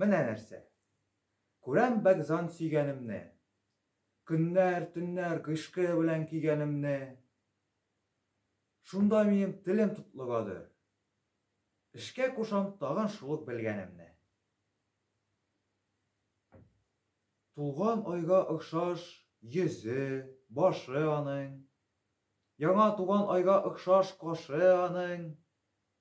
Менә нәрсә. Күрәм бәк зан сөйгәнемне. Көннәр, төннәр гыйшкы белән көйгәнемне. Шунда минем телем тотлыгады. Эшкә кушам тагын шул ук белгәнемне. Тулган айга охшаш йөзе, башы аның. Яңа туган айга охшаш кашы аның.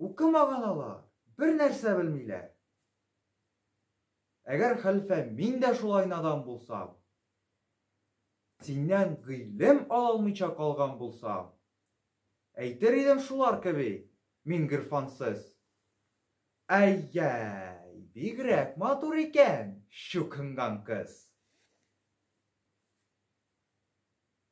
Укымаган алар, бер нәрсә белмиләр. Әгәр хәлфә мин дә шулай надан булсам, синнән гыйлем ала алмыйча калган булсам, әйтер идем шулар кеби, мин гырфансыз. Әй-яй, бигрәк матур икән, чукынган кыз.